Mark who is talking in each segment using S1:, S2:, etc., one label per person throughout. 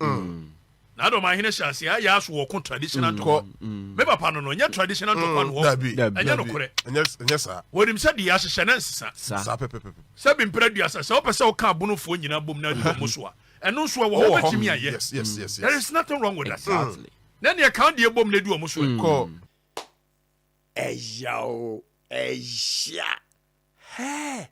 S1: Mm. na dɔm ahene hyɛ ase ayɛ aso wɔ ko traditional ntɔkwa mm. me papa no no nyɛ traditional ntɔkwa no hɔ ɛnyɛ nokorɛ ɛnyɛ saa wɔnim
S2: sɛ deɛ ahyehyɛ na
S1: nsesa saa pɛpɛpɛpɛ
S2: sɛ bi mpere aduasa
S1: sɛ wopɛ sɛ woka abonofoɔ nyina bom na adi wɔn so a ɛno nso ɛwɔ hɔ wobɛtumi ayɛ mm. there is nothing
S2: wrong with
S1: that na neɛ ka deɛ bom na adi wɔn so mm.
S2: ɛyɛ
S3: o ɛyɛ hɛ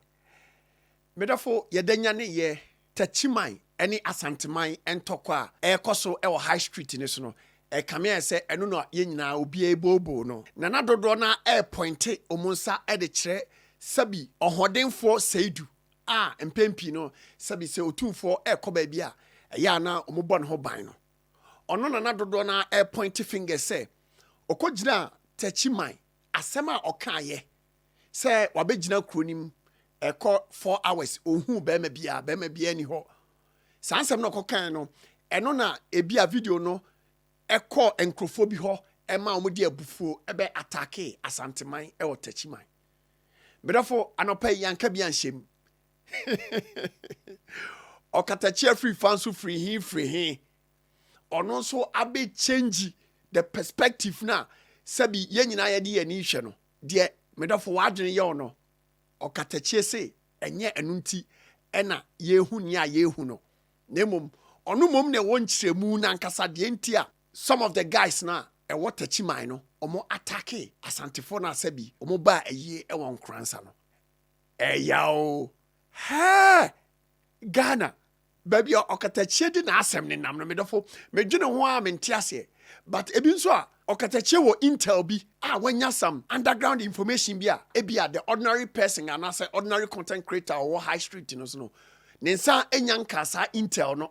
S3: Me dɔfo, yɛda nyane yɛ Takyiman ne Asanteman ntɔkwa a ɛrekɔ so wɔ High Street no so no, ɛkame ayɛ sɛ ɛno na yɛn nyinaa obiara ebooboo no. Nana dodoɔ no ara repɔinte wɔn nsa de kyerɛ sɛbi ɔhoɔdenfoɔ Seidu a mpɛn pii no sɛbi sɛ Otumfoɔ rekɔ baabi a, ɛyɛ a na wɔbɔ ne ho ban no. Ɔno Nana dodoɔ no ara repɔinte fingers sɛ ɔkɔgyinaa Takyiman, asɛm a ɔkaeɛ sɛ wabɛgyina kuro no mu ɛkɔ four hours ɔnhuu bɛrima biara bɛrima biara ni hɔ saa nsɛm na ɔkɔkan no ɛno na ebi a video no ɛkɔ nkurɔfoɔ bi hɔ ɛma wɔn de abufuo ɛbɛ atake asanteman ɛwɔ takyiman medɔfo anɔpa yi yanka bi anhyɛm ɔkatakyi afiri fa nso firi he firi he ɔno nso abɛ change the perspective na sɛbi yɛn nyinaa yɛde yɛn ani hwɛ no Deɛ me dɔfo w'adwene yaw no, ɔkatakyie se ɛnyɛ ɛno nti na yɛrehu nea yɛrehu no, na mmom ɔno mmom na ɛwɔ nkyerɛmu no ankasa deɛ nti a some of the guys no a ɛwɔ Takyiman no wɔn attacke Asantefoɔ no a sɛbi wɔn baa ayie ɛwɔ Nkoransa no. Ɛyaw oo! Hɛɛ! Ghana! Baabi a ɔkatakyie de n'asɛm nenam no, me dɔfo, medwene ho ara mente aseɛ. But ebi nso a, ɔkatakyie wɔ intel bi a wanya some underground information bi a ebia the ordinary person anaasɛ ordinary content creator a ɔwɔ high street no so no, ne nsa nnya nkaa saa intel no.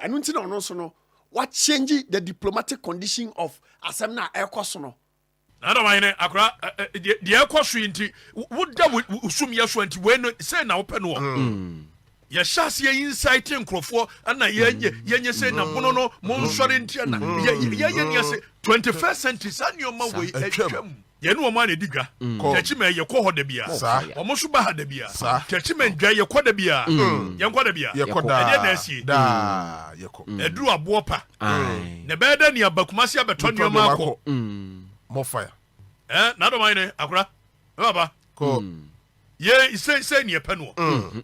S3: Ɛno nti na ɔno nso no, wa change the diplomatic condition of asɛm no a ɛrekɔ so no. Na Edom ahene
S1: akora deɛ ɛkɔ so yi nti, woda wo sumyɛ so nti, wei no sei na wopɛ noɔ. Mm. yɛhyɛ aseɛ yi nsaete nkurɔfoɔ ana yɛnyɛ mm. yɛnyɛ sɛ na mono no mm. monsɔre nti ana yɛyɛ nea sɛ 21st century saa nneɛma wei atwam yɛne wɔn a na ɛdi dwa kyɛkyimɛ yɛkɔ hɔ da bia wɔn nso ba ha da bia kyɛkyimɛ ndwa yɛkɔ da bia yɛnkɔ da bia ɛdeɛ na asie
S2: ɛduru aboɔ pa
S1: Aye. Na ɛbɛyɛ dɛ nea ba kumase abɛtɔ Betɔ nneɛma nneɛma akɔ. akɔ. More fire.
S2: Ɛɛ, n'adɔm ayɛ
S1: dɛn? Akora, me papa, Kɔ.
S2: yɛn
S1: seesei ne yɛpɛ noɔ.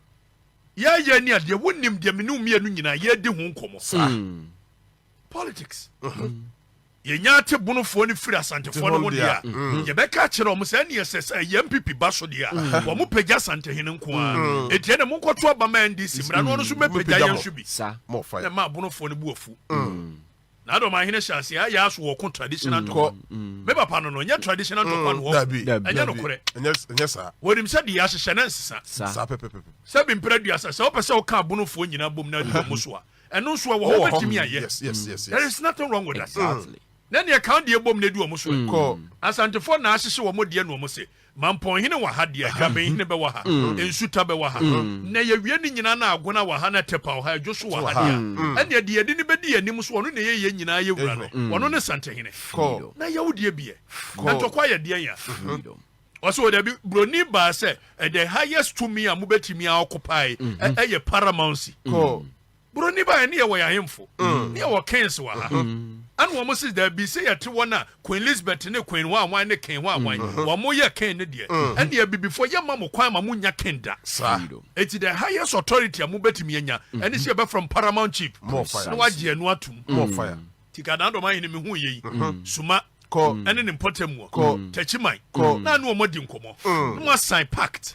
S1: Yɛayɛ ne adeɛ, wonim deɛ me ne wo mmienu nyinaa yɛredi ho nkɔmmɔ. Saa. Politics. Yɛnya atebonofoɔ no firi Te Asantefoɔ no ho ho deɛ a, deɛ a. yɛbɛka akyerɛ wɔn sɛ ɛne ɛsɛ sɛ ɛyɛ MPP ba so deɛ a, wɔn pagya Asantehene nko ara. Enti ɛne monkɔto aba ma NDC mmra na ɔno nso mmɛpagya Mmɛpagya yɛn mo. nso bi. Sa. mmɔfra yɛ ma abonofoɔ
S2: no bu afu
S1: na ada ɔman hene hyɛ aseɛ ayɛ aso wɔ ko traditional mm. ntɔkwa mm. me papa no no nyɛ traditional ntɔkwa mm. no hɔ ɛnyɛ nokorɛ ɛnyɛ saa wɔnim
S2: sɛ deɛ ahyehyɛ ne
S1: nsesa saa pɛpɛpɛpɛ
S2: sɛ bi mpere aduasa
S1: sɛ wopɛ sɛ woka abonofoɔ nyinaa bom na adi wɔn so a ɛno nso ɛwɔ hɔ wobɛtumi ayɛ there is
S2: nothing wrong with
S1: that exactly na neɛ kan deɛ bom na adi wɔn so kɔ asantefoɔ
S2: na ahyehyɛ
S1: wɔn deɛ na wɔn se Mampɔnhene wɔ ha deɛ, Grabenhene bɛwɔ ha, Nsuta bɛwɔ ha, na yɛwie ne nyinaa na Agona wɔ ha na Tɛpa wɔ ha, Adwo so wɔ ha deɛ a, ɛnneɛ deɛ yɛde no bɛdi yɛn anim so, ɔno na ɛyɛ yɛn nyinaa yɛn wura no, ɔno ne Santehene. Na yɛ wo deɛ bi ɛ? Na ntɔkwa yɛ deɛn a? Ɔse o dabi, buroni baa sɛ, the highest tumi a mobɛtumi a occupied ɛyɛ paramountcy. Buroni baeɛ ne yɛwɔ yɛn ahemfo mm. ne yɛwɔ kings wɔ ha mm. ɛna wɔn si daabi sɛ yɛte wɔn a queen elizabeth ne queen ho awan ne king ho awan mm-hmm. wɔn yɛ king ne deɛ mm. ɛna abibifoɔ yɛ ma mo kwan ma mo nya king da saa eti the highest authority a mo bɛtumi anya mm-hmm. ɛne sɛ yɛbɛfrɛ mo paramount chief na wagye ɛno atum
S2: tikadan dɔm ahene
S1: mi hu yɛ yi mm-hmm. suma ɛne ne
S2: mpɔtam wɔ
S1: tɛkyiman na ne wɔn adi nkɔmɔ na wɔn asan pact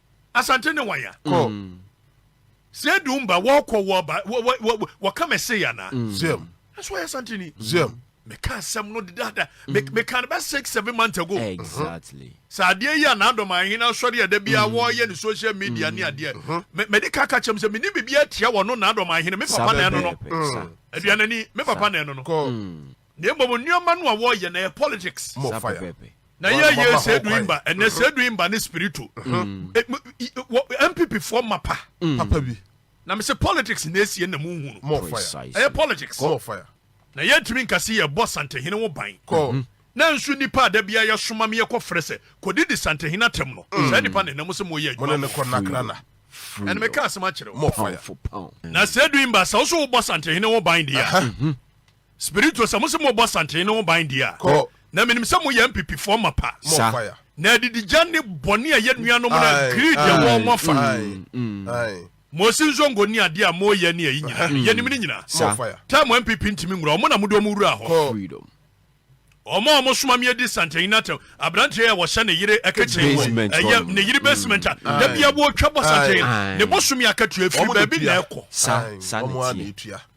S1: asante ne wan a kɔ sɛ edu mba wɔkɔ wɔba wɔka mɛse yɛ anaa mm. zɛm ɛso ɔyɛ asante ni zɛm meka asɛm no dedaada mm. meka no bɛ six seven months ago exactly mm-hmm. sɛ
S4: adeɛ yi a
S1: n'adɔm ahene asɔre ɛda bi a wɔyɛ ne social media ne adeɛ mm-hmm. mɛde kaka kyɛm sɛ mene biribi atia wɔ no n'adɔm ahene me papa na ɛno no aduanani me papa na ɛno no Na mmom nneɛma no a wɔyɛ na ɛyɛ politics. More fire. Na yɛ yɛ sɛ du imba ɛnɛ sɛ du imba ne spirito npp foɔ ma pa papa bi
S2: na me sɛ politics
S1: na esie na mu nhunu More fire. ɛyɛ
S2: politics More
S1: fire.
S2: na yɛntumi nka
S1: sɛ yɛbɔ santehene ho ban Call. na nso
S2: nnipa
S1: a da biara yɛsoma me yɛkɔfrɛ sɛ kɔdidi santehene atɛm no saa nnipa na ɛnam sɛ moyɛ Mo ne ne adwuma kɔ nakrana.
S2: ɛne meka
S1: asɛm akyerɛ wo More fire.
S2: na sɛ du
S1: imba sɛ wo so wobɔ santehene ho ban deɛ a Spirito sɛ mose mobɔ santene ne ho ban deɛ a Kɔ. na menim sɛ
S2: moyɛ
S1: mpipifoɔ mapa. Sa. Na
S2: adigdigya ne
S1: bɔne a ɛyɛ nuanom no a greed ɛwɔ wɔn afa. Aye.
S2: Mose nzongo
S1: ne adeɛ a moyɛ ne ayi nyina yɛnim ne nyina. Sa. Time a mpp
S2: ntimi nwura
S1: wɔn na mode wɔn wuraa hɔ. Kɔ. Freedom. Wɔn a wɔn soma me adi santene no atɛm abranteɛ yi a wɔhyɛ ne yere kitchen wɔ Basement hɔ ɛyɛ nom. ne yere basement a da Aye. biara wɔtwa bɔ santene no Aye. ne bosome akatua firi Wɔn na baabi na etua. ɛkɔ. Sa. Aye. Saa na Wɔn ara na ɛteɛ.
S2: etua.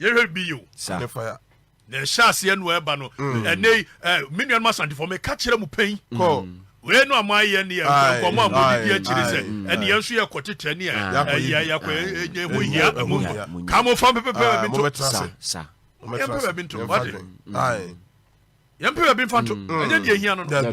S1: yɛhwɛ bio na ɛhyɛ aseɛ no ɛba no mm. ɛnɛ yi me nuanom asantefoɔ meka kyerɛ mu pɛn mm. wei no a moayɛ ne nkɔmmɔ a modidi akyiri sɛ ɛne yɛn nso yɛkɔ tetɛ ne yɛkɔ ɛnyɛ ho hia ka mofa mpepepɛ baabi nto yɛmpɛ baabi nto wade yɛmpɛ baabi mfa nto ɛnyɛ deɛ hia no no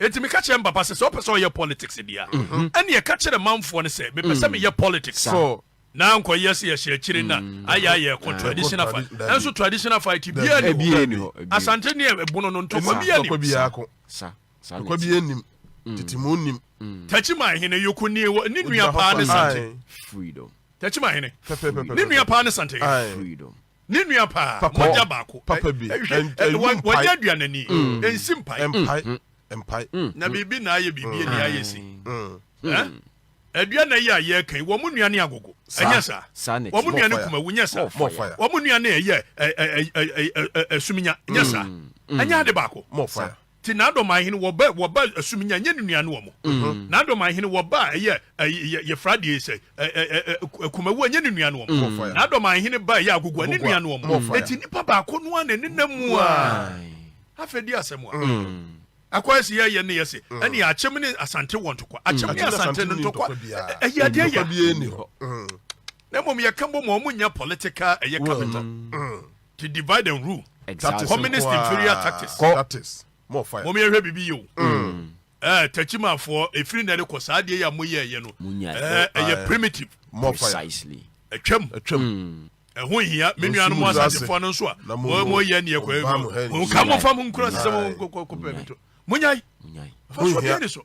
S1: Enti meka kyerɛɛ me papa sɛ, sɛ ɔpɛ sɛ ɔyɛ politics deɛ a, ɛnneɛ ka kyerɛ manfoɔ no sɛ mepɛ sɛ meyɛ politics. Na ankɔyɛ sɛ yɛhyɛ akyire na ayɛ a yɛkɔ traditional fight. Ɛnso traditional fight biara nni hɔ. Asante ne ɛbono no ntɔkwa biara nnim. Ntɔkwa
S2: biara nnim. Tete mu nnim. Tachiman hene
S1: Yoko nie wɔ ne nua paa ne Sante.
S3: Tachiman hene
S1: ne nua paa ne Sante.
S3: Ne nua paa,
S1: mogya baako. Papa bi,
S2: wɔnyɛ
S1: aduanani, ɛnsi mpae. Mpae,
S2: mpae. Na biribi
S1: na ayɛ biribi ani ayɛ si. Aduana yi a yɛreka yi, wɔn nua ne agogo, ɛnyɛ saa? Wɔn nua ne kumawu, nyɛ saa? Wɔn nua ne ɛyɛ ɛsuminya, nyɛ saa? Ɛnyɛ ade baako? Te
S2: N'adɔmanhene
S1: wɔ ba wɔ ba asum nya nyɛ ne nua ne wɔ mo. N'adɔmanhene wɔ ba a ɛyɛ yɛ yɛ fra deɛ sɛ ɛ ɛ ɛ ɛ kumawu a nyɛ ne nua ne wɔ mo. N'adɔmanhene ba a ɛyɛ agogo a ne nua ne wɔ mo. Eti nipa baako no ara na ɛne nam mu a. Afei di asɛm a. Akɔyɛ se yɛ yɛ ne yɛ se ɛne akyem ne asante wɔ ntokwa. Akyem ne asante no ntokwa ɛyɛ adeɛ yɛ. Na mmom yɛ ka bɔ mu a wɔn nyɛ political ɛyɛ capital. The divide and rule. Exactly. Communist inferior tactics. Kɔ. That is more fire. Mom yɛhwɛ
S2: biribi yɛ o. Mm.
S1: Eh, tachimafoɔ efiri na ɛde kɔ saa adeɛ yɛ a mo yɛ ɛyɛ no. Mo nya ɛyɛ. Eh, ɛyɛ primitive. More fire. Precisely.
S2: Ɛtwam.
S3: Ɛtwam. Mm.
S1: Ɛho hia me nuanom asasefoɔ no nso a mo mo yɛ neɛ kɔ ɛmu. Mo nka mo fa mo nkura sisɛ mo kɔ kɔ pɛ mi to. Mo nyai. Mo nyai. Fa so deɛ ni so.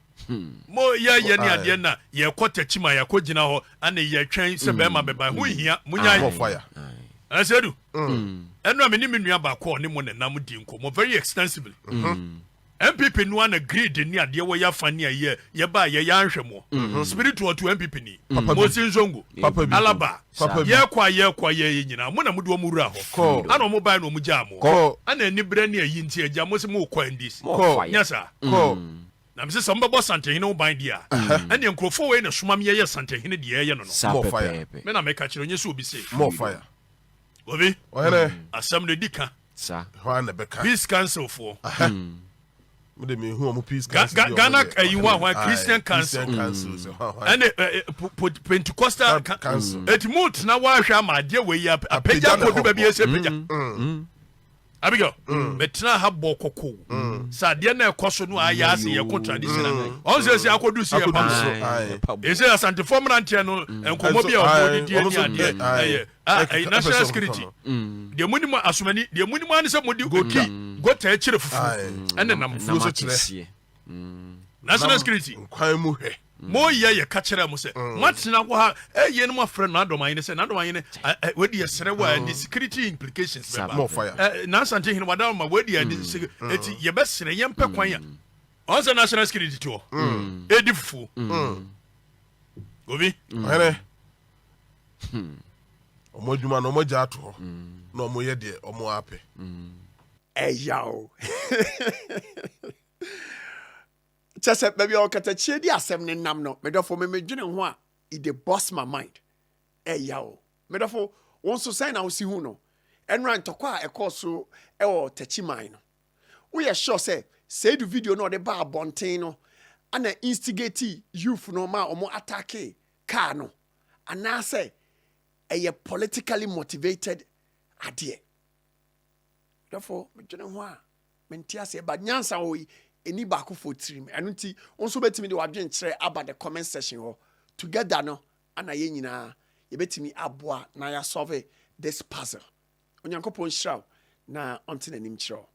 S1: Hmm. Mo yɛ yɛ ne adeɛ na yɛkɔ takyi ma yɛkɔ gyina hɔ ɛne yɛtwɛn sɛ bɛrima bɛba ɛho nhia mo nya yi ɛsɛ du ɛno a me ne me nua baako a ɔne mo nenam di nkɔmmɔ very extensively npp no ana greed ne adeɛ wɔ yɛafa ne ayɛ yɛba yɛyɛ anhwɛ moɔ spiritual to npp ni mosi nsongo alaba Papa bi. Yɛkɔ a yɛkɔ a yɛyɛ nyinaa, mo na mode wɔn wuraa hɔ. Kɔ. Ana wɔn bae na wɔgyaa mo? Kɔ. Ana aniberɛ ne ayi nti agya mose morekɔ NDC? Kɔ. Nyɛ saa. Kɔ. Na mese sɛ mobɛbɔ Asantehene ho ban deɛ a, ɛneɛ nkurɔfoɔ wei na ɛsoma me yɛyɛ Asantehene deɛ yɛyɛ no no. Saa pɛpɛɛpɛ. Me na meka kyerɛ wo, nyɛ sɛ obi se. Mmɔ fire.
S2: Obi.
S1: Ɔhene. Asɛm no, ɛdi ka. Sa. Ɛhɔ ara na ɛbɛka. Peace Council foɔ. Aha. Me de mehu wɔn
S2: Peace Council. Ga Ga Ghana ɛyi
S1: hɔ ahwan Christian Council. Christian Council sɛ hwan hwan. Ɛne Pentecostal Council. Eti mu tena hɔ ahwɛ ama adeɛ wɔ yi apagya kodu baabi yɛ sɛ pagya. Abigail mɛtena ha bɔ kɔkɔ sɛ adeɛ na ɛkɔ so no ayɛ ase yɛ ko traditional ɔn sɛ sɛ akɔdu si yɛ pam so ɛsɛ asantefoɔ mmeranteɛ no nkɔmmɔ bi a ɔmɔ didi ɛni adeɛ ɛyɛ Ah, ɛyɛ eh, national security mm. deɛ monim asomani deɛ monim ane sɛ mode ki gota akyirɛ fufuo ɛne nam fuo so kyerɛ mm. national security nkwan mu hwɛ
S2: mm. moyɛ yɛ ka
S1: kyerɛ mo sɛ moatena hɔ ha ɛyɛ eh, no moafrɛ no adɔmayene sɛ nadɔmayene eh, wadi ɛserɛ wɔ ɛde security implications bɛba
S2: nansante hene wada
S1: ma wadi ɛde ɛti yɛbɛserɛ yɛmpɛ kwan a ɔn sɛ national security toɔ ɛdi fufuo obi
S2: Hmm. Ɔmo adwuma no ɔmo agya ato hɔ na ɔmo yɛ deɛ ɔmo apɛ.
S3: Ɛyaw. Kyɛ sɛ baabi a ɔkatakyie di asɛm ne nam no, medɔfo me medwene ho a, it dey bust my mind. Ɛyaw. Medɔfo, wo nso sɛn na wosi hu no? Ɛnora ntɔkwa a ɛkɔɔ so wɔ Takyi man no, woyɛ sure sɛ Seidu video no a ɔde baa abɔnten no na instigate youth no maa ɔmo attackee kaa no anaasɛ ɛyɛ politically motivated adeɛ dɔfo medwene ho a mente aseɛ ba nyansa wɔ ɛni baakofoɔ tirim ɛno nti wo nso wobɛtumi de wadwenkyerɛ aba the comment section hɔ together no ana yɛn nyinaa yɛbɛtumi aboa na yɛasɔve this puzzle onyankopɔn nhyira wo na ɔnte n'anim kyerɛ wo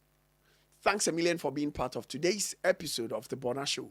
S3: thanks a million for being part of today's episode of the Bona show